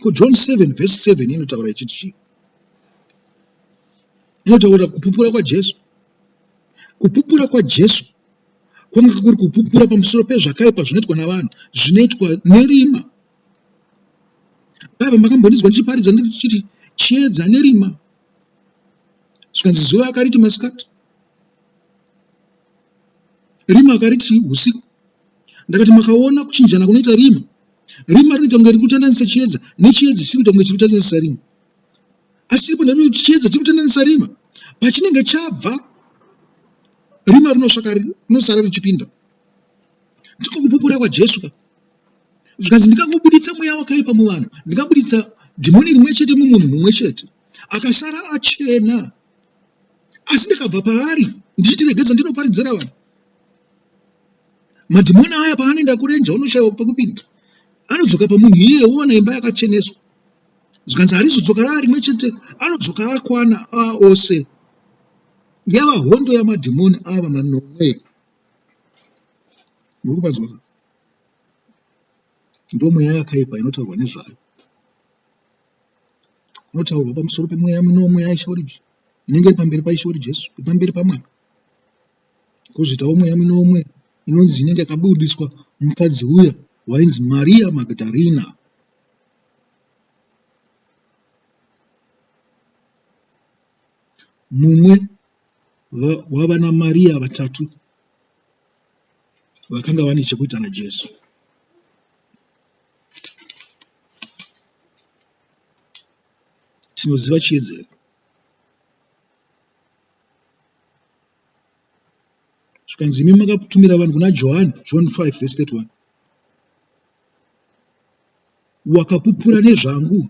Ko John 7 verse 7 inotaura ichiti chii? Inotaura kupupura kwaJesu. Kupupura kwaJesu kwanga kuri kupupura pamusoro pezvakaipa zvinoitwa navanhu, zvinoitwa nerima. Baba makambondinzwa ndichiparidza ndichiti chiedza nerima, zvikanzi zuva akariti masikati. Rima akati, Tii, husiku? Ndakati, Makaona kuchinjana kunoita rima? Rima rinoita kunge riri kutandanisa chiedza, nechiedza chichiri kuita kunge chiri kutandanisa rima. Asi chiripo ndaiona kuti chiedza chiri kutandanisa rima. Pachinenge chabva, rima rinosvaka rinosara richipinda. Ndiko kupupura kwaJesu ka. Zvikanzi ndikangobuditsa mweya wakaipa muvanhu, ndikabuditsa dhimoni rimwe chete mumunhu mumwe chete, akasara achena. asi ndakabva paari ndichiti regedza ndinoparidzira vanhu madhimoni aya paanoenda kurenja unoshaiwa pekupinda anodzoka pamunhu iye oona imba yakacheneswa zvikanzi harizodzoka raa rimwe chete anodzoka akwana aa ose yava hondo yamadhimoni ava manomwe muri kupanzwaka ndomweya yakaipa inotaurwa nezvayo kunotaurwa pamusoro pemweya minomwe yaIshe wedu inenge iri pamberi paIshe wedu Jesu, iri pamberi paMwari. Kozoitawo mweya minomwe inonzi inenge yakabudiswa mukadzi uya wainzi Maria Magdalena. Mumwe wavana Maria vatatu vakanga vane chekuita naJesu. tinoziva chiedza here zvikanzi imi makatumira vanhu kuna johani john 5 vese 31 wakapupura nezvangu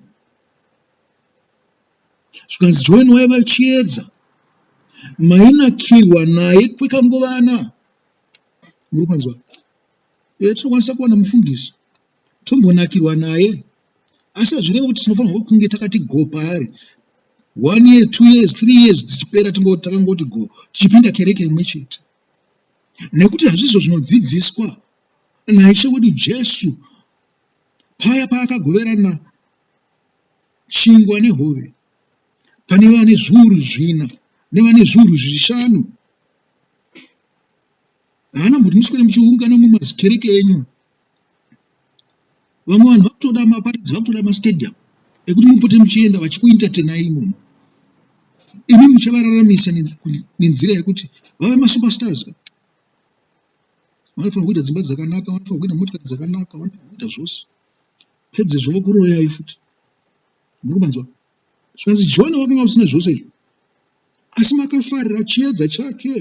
zvikanzi johani waiva chiedza mainakirwa naye kwekanguvana muri kwanzwa Uye tinokwanisa kuwana mufundisi tombonakirwa naye asi hazvirevi kuti tinofanirwa kunge takati go paari one year two years three years dzichipera takangoti go tichipinda kereke imwe chete nekuti hazvizvo zvinodzidziswa naishe wedu jesu paya paakagoverana chingwa nehove pane vane zviuru zvina nevane zviuru zvishanu haana mbuti muswera muchiungana mumazikereke enyu vamwe vanhu vakutoda maparidzi vakutoda mastadium ekuti mupote muchienda vachikuintertenai imomo imi muchavararamisa nenzira yekuti vave masuperstars ka vanofanira kuita dzimba dzakanaka vanofanira kuita motikari dzakanaka vanofanira kuita zvose pedzezvo vokuroyai futi muri kumanzwa zvikanzi john wakanga usina zvose izvo asi makafarira chiedza chake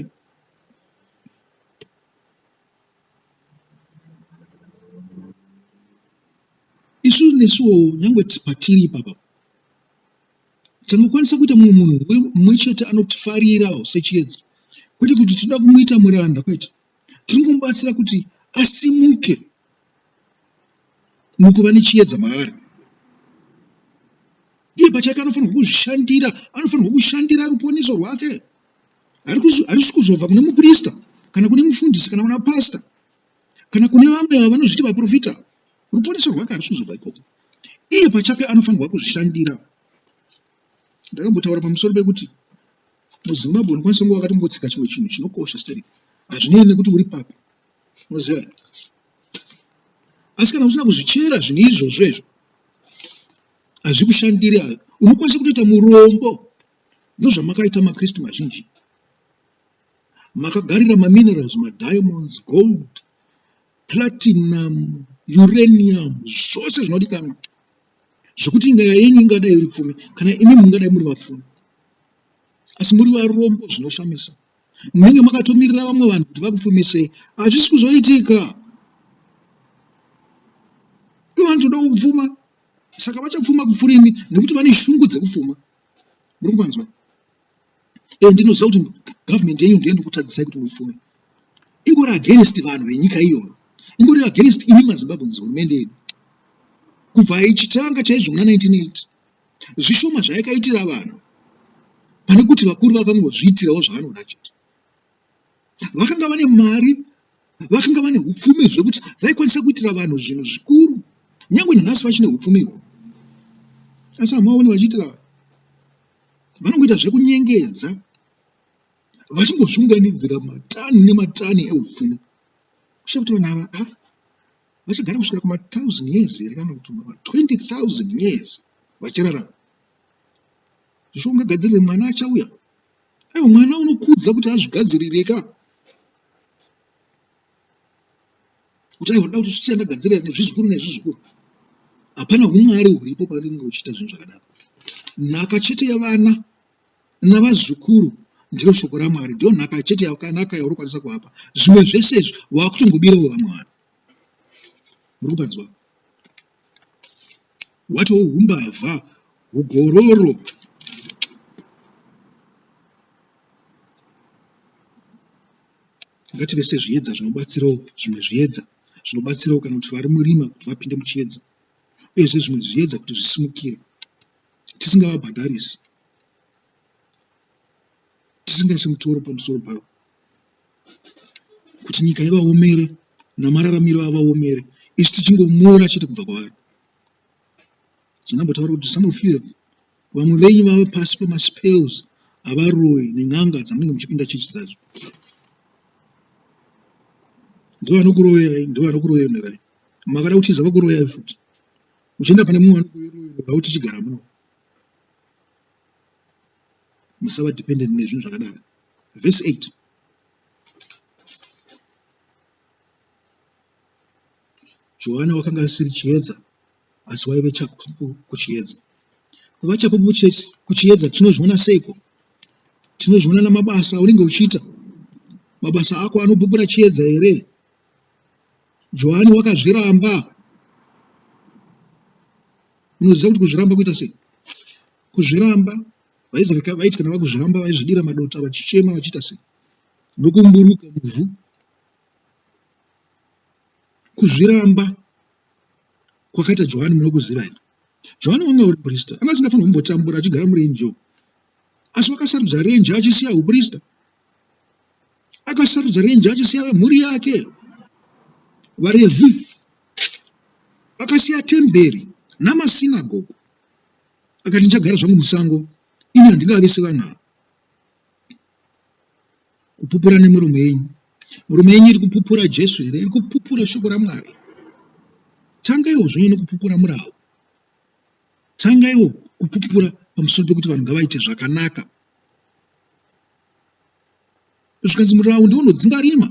isu nesuwo nyange patiri ipapa tingakwanisa kuita mumwe munhu mumwe chete anotifarirawo sechiedza kwete kuti tinoda kumuita muranda kwete tinomubatsira kuti asimuke mukuva nechiedza maari iye pachake anofanirwa kuzvishandira anofanirwa kushandira ruponeso rwake harisi kuzobva kune muprista kana kune mufundisi kana kuna pasta kana kune vamwe ava vanozviti vaprofita ruponeso rwake harisi kuzobva ikoko iye pachake anofanirwa kuzvishandira ndakambotaura pamusoro pekuti muzimbabwe unokwanisa kunge wakatombotsenga chimwe chinhu chinokosha steri hazvinei nekuti uri papi Muziva here? Asi kana usina kuzvichera zvinhu izvozvo izvo hazvikushandiri hayo. Unokwanisa kutoita murombo. Ndozvamakaita maKristu mazhinji. Makagarira maminerals, madiamonds, gold, platinum, uranium, zvose zvinodikanwa zvekuti nyaya yenyu ingadai iri pfumi kana imi mungadai muri vapfumi asi muri varombo zvinoshamisa munenge makatomirira vamwe vanhu kuti vakufumisei hazvisi kuzoitika ivanhu toda kupfuma saka vachapfuma kupfuura imi nekuti vane shungu dzekupfuma muri kupanzwa e ndinoziva kuti government yenyu ndiyo ndikutadzisai kuti mupfume ingori against vanhu venyika iyoyo ingori against imi mazimbabweans hurumende yedu kubva ichitanga chaizvo muna 1980 Zvishoma zvayakaitira vanhu pane kuti vakuru vakangozviitirawo zvavanoda chete. Vakanga vane mari, vakanga vane upfumi zvekuti vaikwanisa kuitira vanhu zvinhu zvikuru. Nyangwe nanhasi vachine upfumi ihwohwo. Asi hamuvaoni vachiitira vanhu. Vanongoita zvekunyengedza vachingozviunganidzira matani nematani eupfumi. Kusha kuti vanhu ava ah, vachagara kusvika kuma thousand years here kana kuti ma 20000 years vachirarama zvisho ungagadzirire mwana achauya aiwa mwana unokudza kuti azvigadzirire ka kuti aiwa ndoda kuti zvichita ndagadzirira nezvizukuru nezvizukuru hapana umwari huripo paringe uchiita zvinhu zvakadaro nhaka chete yevana navazukuru ndiro shoko raMwari ndo nhaka chete yakanaka yauri kwanisa kuvapa zvimwe zvese izvi wakutongobirawo vamwe vanhu muri kukanzwa watowo humbavha hugororo ngative sezviedza zvinobatsirawo zvimwe zviedza zvinobatsirawo kana kuti vari murima kuti vapinde muchiedza uyezve zvimwe zviedza kuti zvisimukire tisingavabhadharisi tisingaise mutoro pamusoro pavo kuti nyika ivaomere namararamiro avaomere isu tichingomora chete kubva kwavari zvinambotaura kuti some of you vamwe venyu vava pasi pemaspels avaroyi nen'anga dzamunenge muchipinda chichi dzacho ndovanokuroyai ndovanokuroyonerai makada kutiza vakuroyai futi uchienda pane mumwe vanhu kuve royal wobva utichigara muno musava dependent nezvinhu zvakadaro verse 8 johana wakanga asiri chiedza asi waive chapupu kuchiedza kuva chapupu kuchiedza tinozviona seiko tinozviona namabasa aunenge uchiita mabasa ako anopupura chiedza here Johani wakazviramba. Munoziva kuti kuzviramba kuita sei? Kuzviramba vaIsraeri vaiti kana vakuzviramba vaizvidira madota vachichema vachiita sei? Nokumburuka muvhu. Kuzviramba kwakaita Johani munokuziva here? Johani wanga uri muprista, anga asingafanirwi kumbotambura achigara murenje uko. Asi wakasarudza renje achisiya uprista akasarudza renje achisiya vemhuri yake varevhi akasiya temberi namasinagogo akati ndichagara zvangu musango ini handingave sevana kupupura nemurume yenyu murume yenyu iri kupupura jesu here iri kupupura shoko ramwari tangaiwo zvonyo nekupupura murawo tangaiwo kupupura pamusoro pekuti vanhu ngavaite zvakanaka zvikanzi murawu ndiwo unodzinga rima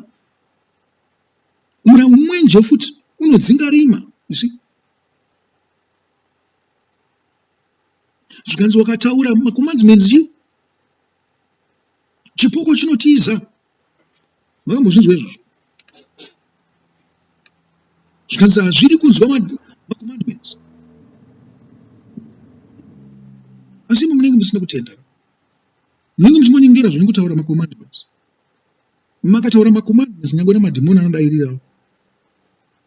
murawu mwenje futi unodzinga rima isi zvikanzi wakataura macommandments chipoko chinotiza makambozvinzwa izvozvo zvikanzi hazvidi kunzwa macommandments asi imi munenge musina kutenda munenge muchingonyengera zvenyu kutaura macommandments makataura macommandments nyangwe namadhimoni anodairirawo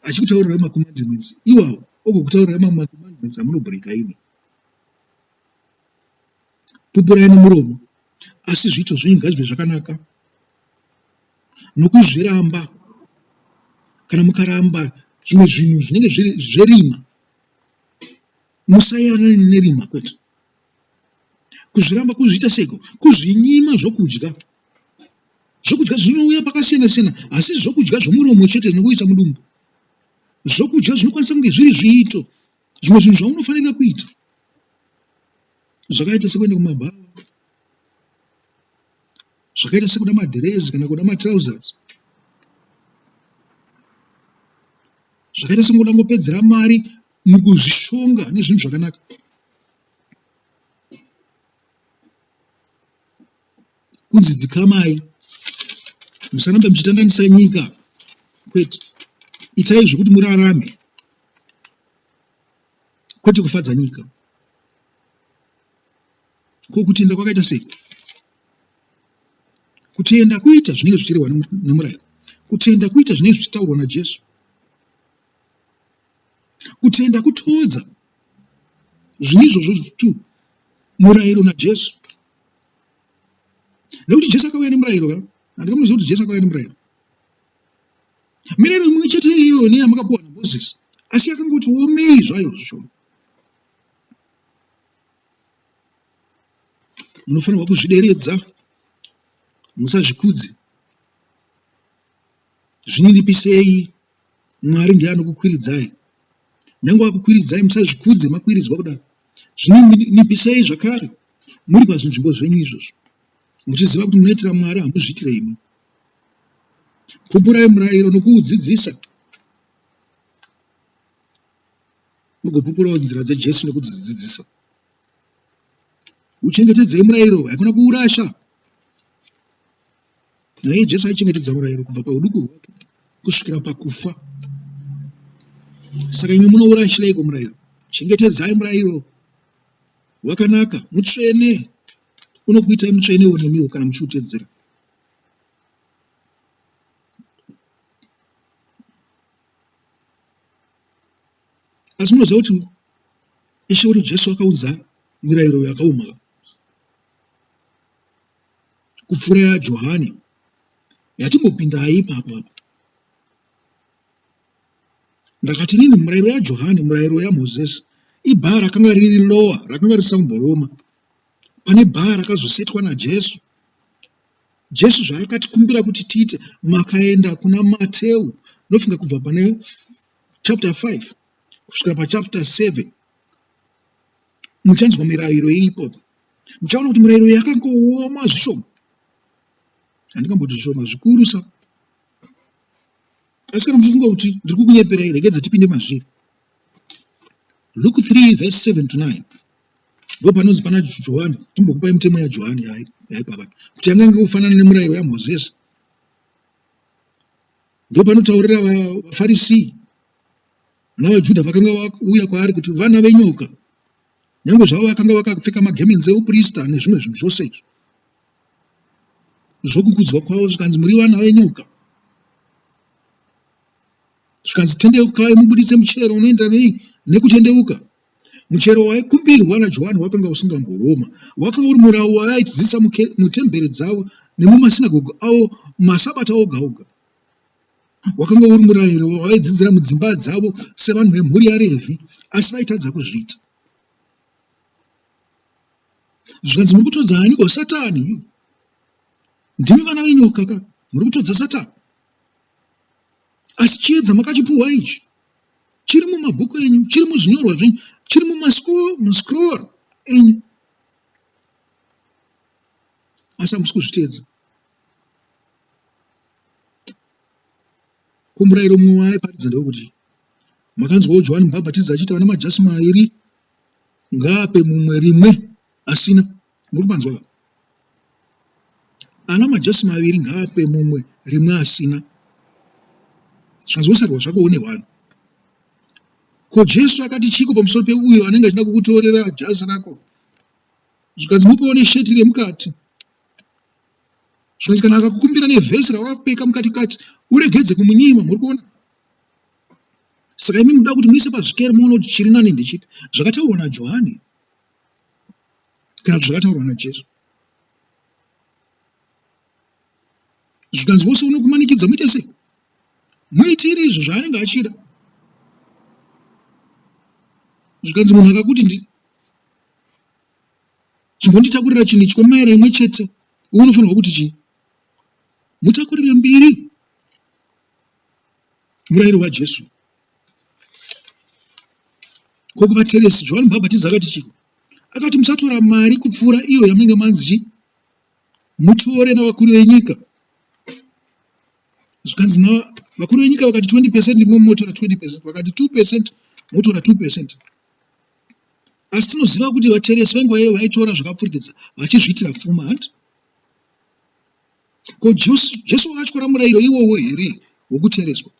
achikutaurirai macommandments iwawo ogokutaurirai mamwe macommandments amunobreaka imi Pupurai nomuromo, asi zviito zvenyu ngazvive zvakanaka nokuzviramba. Kana mukaramba zvimwe zvinhu zvinenge zviri zverima, musairanane nerima kwete. Kuzviramba kuzviita seiko? Kuzvinyima zvokudya. Zvokudya zvinouya pakasiyana siyana, asi zvokudya zvomuromo chete zvinongoisa mudumbu. Zvokudya zvinokwanisa kunge zviri zviito Zvimwe zvinhu zvaunofanira kuita zvakaita sekuenda kumabhawa, zvakaita sekuda madhirezi kana kuda matrousers, zvakaita sekungoda ngopedzera mari mukuzvishonga nezvinhu zvakanaka. kunzi dzikamai musarambe muchitandanisa nyika kwete itai zvekuti murarame kwete kufadza nyika ko kutenda kwakaita sei kutenda kuita zvinenge zvichirehwa nemurayiro kutenda kuita zvinenge zvichitaurwa najesu kutenda kutodza zvine izvozvo zvitu murayiro najesu nekuti jesu akauya nemurayiro ka handika munoziva kuti jesu akauya nemurayiro mirayiro imwe chete iyo neyamakapuwa namoses asi yakangoti womei zvayo zvishoma munofanirwa kuzvideredza musazvikudze zvininipisei Mwari ndiye anokukwiridzai. Nyange akukwiridzai musazvikudze makwiridzwa kudaro. Zvinonipisei zvakare muri pazvinzvimbo zvenyu izvozvo muchiziva kuti munoitira Mwari hamuzviitire imi. Pupurai murayiro nokuudzidzisa mugopupurawo nzira dzeJesu nekudzidzidzisa. Uchengetedzei murayiro haikona kuurasha. Naye Jesu aichengetedza murayiro kubva pauduku hwake kusvikira pakufa. Saka imwe munourayishireiko murayiro? Chengetedzai murayiro wakanaka, mutsvene, unokuitai mutsvenewo nemiwo kana muchiutedzera. Asi munoziva kuti Ishe wedu Jesu akaunza mirayiro yakaoma kupfuura yaJohane yatimbopindayi ipapo apa. Ndakati inini murayiro yaJohane, murayiro yaMozesi, ibhaa rakanga riri lower, rakanga risina kumboroma pane bhaa rakazosetwa naJesu. Jesu zvaakatikumbira kuti tiite, makaenda kuna Mateu, ndofunga kubva pane chapter 5 kusvikira pachapter 7 muchanzwa mirayiro iripo. Ndichaona kuti mirairo yakangooma zvishoma. Handingamboti zvishoma zvikurusa. Asi kana muchifunga kuti ndiri kukunyeperai, regedza tipinde mazviri. Luke 3 verse 7 to 9 ndo panonzi pana johani timbokupai mitemo yajohani yaipava kuti yanga inge kufanana nemurayiro yamozisi ndo panotaurira vafarisii navajudha vakanga vauya kwaari kuti vana venyoka Nyange zvavo vakanga vakapfeka magemenzi euprista nezvimwe zvinhu zvose izvo zvokukudzwa kwavo, zvikanzi muri vana venyoka, zvikanzi tendeukai mubuditse muchero unoenda nei nekutendeuka. Muchero waikumbirwa naJohani wakanga usingambooma, wakanga uri murau wavaaidzidzisa mutembere dzavo nemumasinagoge avo masabata oga oga. wakanga uri murayiro wavaidzidzira mudzimba dzavo sevanhu vemhuri yarevhi asi vaitadza kuzviita zvikanzi muri kutodza aniko satani ndimi vana venyoka ka muri kutodza satani asi chiedza makachipuhwa ichi chiri mumabhuku enyu chiri muzvinyorwa zvenyu chiri mumascroll enyu asi hamusi kuzviteedza Ko murayiro mumwe waaiparidza ndewekuti makanzwawo Johani Mubhabhatidzi achiti ana majasi mairi ngaape mumwe rimwe asina. Muri kupanzwa ka? Ana majasi maviri ngaape mumwe rimwe asina. Zvanzwosarwa zvako une hwani. Ko Jesu akati chiko pamusoro peuyo anenge achida kukutorera jazi rako? Zvikanzi mupewo nesheti remukati. zvikazi kana akakukumbira nevhesi rawapfeka mukati kati uregedze kumunyima muri kuona saka imi muda kuti muise pazvikero muone kuti chiri nani ndechiti zvakataurwa najohani kana kuti zvakataurwa najesu zvikanzi wose unokumanikidza muite sei muitire izvo zvaanenge achida zvikanzi munhu akakuti chimbonditakurira chinhu ichi kwemaera imwe chete uku unofanirwa kuti chii mutakurire mbiri murayiro wajesu ko kuvateresi johani mubhabhatizi akati chii akati musatora mari kupfuura iyo yamunenge manzi chii mutore navakuru venyika zvikanzi vakuru venyika vakati 20 percent momotora 20 percent vakati 2 percent motora 2 percent asi tinoziva kuti vateresi venguva iyoyo vaitora zvakapfurikidza vachizviitira pfuma hanti ko jesu wakatyora murayiro iwowo here wokutereswa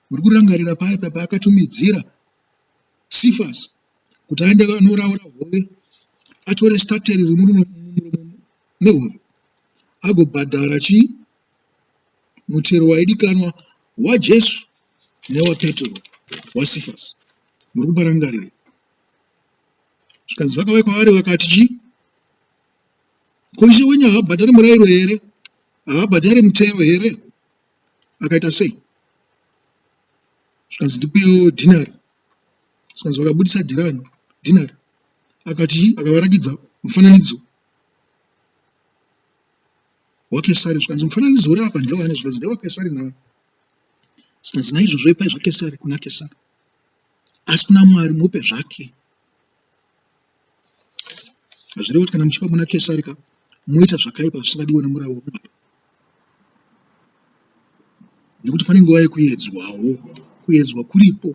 muri kurangarira paya papa akatumidzira sifas kuti aende anoraura hove atore stateri rimuromo nehove agobhadhara chii mutero waidikanwa waJesu newaPetro waSifasi. Muri kuparangarira? Zvikanzi vakauya kwaari vakati chii? Ko ishe wenyu haabhadhari murairo here? Haabhadhari mutero here? Akaita sei? Zvikanzi ndipewo dhinari. Zvikanzi vakabudisa dhirani, dhinari. Akati chii? Akavarakidza mufananidzo waKesari zvikanzi, Mufananidzo uri apa ndewani? Zvikanzi, NdewaKesari nhai? Zvikanzi, Naizvozvo ipai zvaKesari kuna Kesari, asi kuna Mwari mupe zvake. Hazvirevi kuti kana muchipa kuna Kesari ka moita zvakaipa zvisingadiwe nemurau wokubata, nekuti pane nguva yekuedzwawo, kuedzwa kuripo.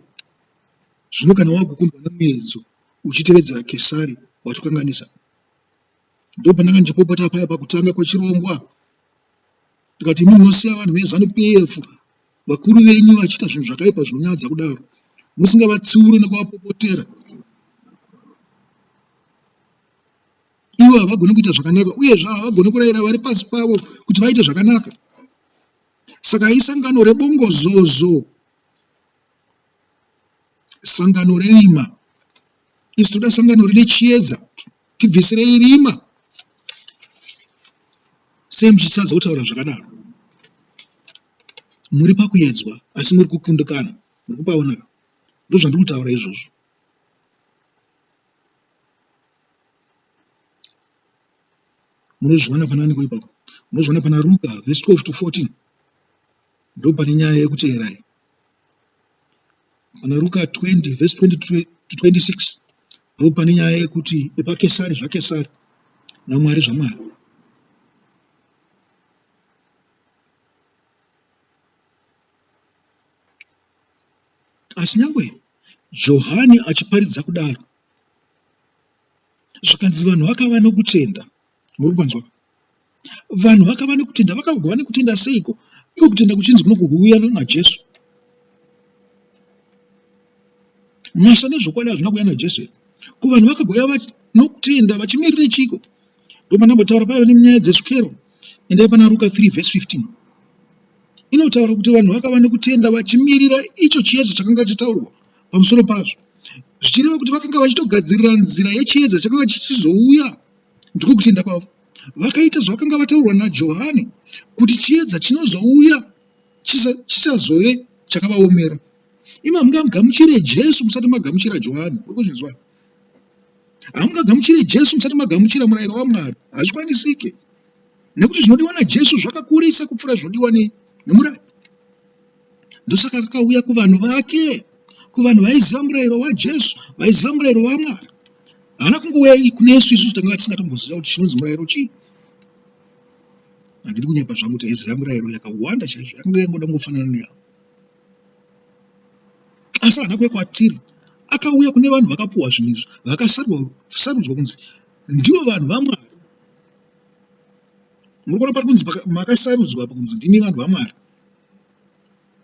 Zvino kana wagukundwa nemuedzo uchitevedzera Kesari, watokanganisa. Ndopandanga ndichipopota paya pakutanga kwechirongwa tikati imi munosiya vanhu veZanu PF vakuru venyu vachiita zvinhu zvakaipa zvinonyadza kudaro musingavatsiure nekuvapopotera ivo havagoni kuita zvakanaka uyezve havagoni kurayira vari pasi pavo kuti vaite zvakanaka saka isangano rebongozozo sangano rerima isi toda sangano rine chiedza tibvisirei rima sei muchitadza kutaura zvakadaro muri pakuyedzwa asi muri kukundikana muri kupaona ndozvandiri kutaura izvozvo munozviona panani ko ipapo munozviona pana ruka vhesi 12 to 14 ndopane nyaya yekuteerai Muna Ruka 20 vhesi 22 to 26 ndipo pane nyaya yekuti epaKesari zvaKesari naMwari zvaMwari. Asi nyangwe Johani achiparidza kudaro, zvikanzi vanhu vakava nokutenda. Muri kunzwa? Vanhu vakava nekutenda, vakagova nekutenda seiko? Iko kutenda kuchinzi kuno kuhuuya naJesu. Nyasha nezvokwadi hazvina kuuya naJesu here? Ko vanhu vakagova nokutenda vachimirire chiko? Ndomandambotaura paiva nenyaya dzezvikero. Endai pana Ruka 3 vhesi 15 inotaura kuti vanhu vakava nekutenda vachimirira icho chiedza chakanga chitaurwa pamusoro pazvo zvichireva kuti vakanga vachitogadzirira nzira yechiedza chakanga chichizouya Ndiko kutenda kwavo. Vakaita zvavakanga vataurwa naJohani kuti chiedza chinozouya chichazove chakavaomera. Imi hamungagamuchire Jesu musati magamuchira Johani. Uri kuzvinzwa? Hamungagamuchire Jesu musati magamuchira murayiro waMwari. Hazvikwanisike. Nekuti zvinodiwa naJesu zvakakurisa kupfuura zvinodiwa nemurayiro. Ndosaka akauya kuvanhu vake, kuvanhu vaiziva murayiro waJesu, vaiziva murayiro waMwari. Haana kungouya kunesu isusu tanga tisingatomboziva kuti chinonzi murayiro chii. Handidi kunyepa zvangu kuti aiziva murayiro yakawanda chaizvo, yakanga yangoda kungofanana neyavo. Asi haana kuuya kwatiri, akauya kune vanhu vakapuwa zvinhu izvi, vakasarudzwa kunzi ndivo vanhu vaMwari. Muri kuona pari kunzi makasarudzwa apa kunzi ndimi vanhu vaMwari.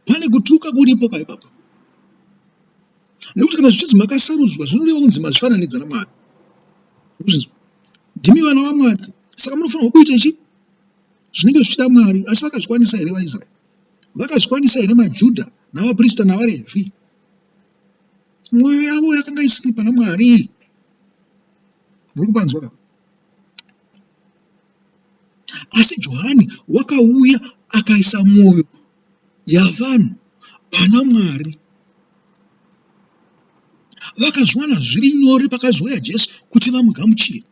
pane kutuka kuripo pa ipapa nekuti kana zvichinzi makasarudzwa zvinoreva kunzi mazvifananidza namwari ndimi vana vamwari saka munofanirwa kuita chi zvinenge zvichida mwari asi vakazvikwanisa here vaisraeri vakazvikwanisa here majudha navaprista navarevhi mwoyo yavo yakanga isiri pana mwari muri kupanzwa ka Asi Johani wakauya akaisa mwoyo yavanhu pana Mwari. Vakazviwana zviri nyore pakazouya Jesu kuti vamugamuchire.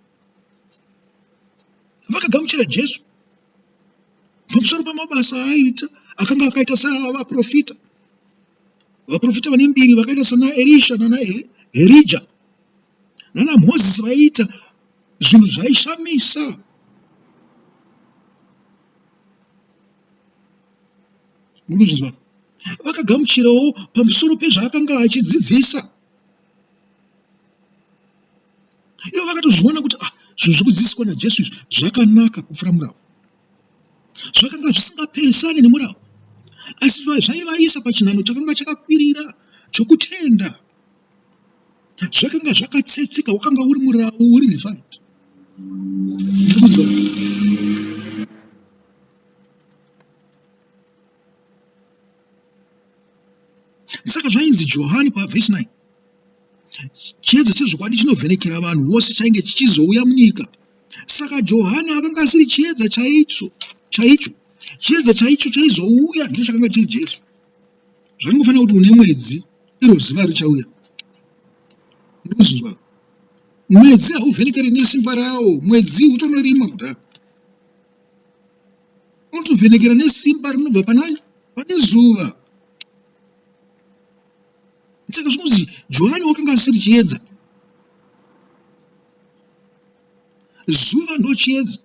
Vakagamuchira Jesu pamusoro pamabasa aaita akanga akaita seavaprofita. Vaprofita vane mbiri vakaita sana Erisha nana Erija nana Mozisi vaiita Zvinhu zvaishamisa. Muri kuzvinzwa? Vakagamuchirawo pamusoro pezvaakanga achidzidzisa. Ivo vakatozviona kuti ah, zvinhu zviri kudzidziswa naJesu izvi zvakanaka kupfuura murau. Zvakanga zvisingapesani nemurau, asi zvaivaisa pachinhanho chakanga chakakwirira chokutenda. zvakanga zvakatsetseka wakanga uri murawo uri refined saka zvainzi johani pavhesi 9 chiedza chezvokwadi chinovhenekera vanhu vose chainge chichizouya munyika saka johani akanga asiri chiedza chaicho chaicho chiedza chaicho chaizouya ndicho chakanga chiri jesu zvaringofanira kuti une mwedzi iro zuva richauya ndozuzwa mwedzi hauvhenekere nesimba rawo mwedzi utonorima kudaro unotovhenekera nesimba rinobva panai pane zuva saka zvinonzi johani wakanga asiri chiedza zuva ndochiedza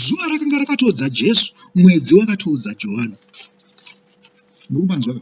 Zuva rakanga rakatoudza Jesu, mwedzi wakatoudza Johani. Muri kupanzwa ka?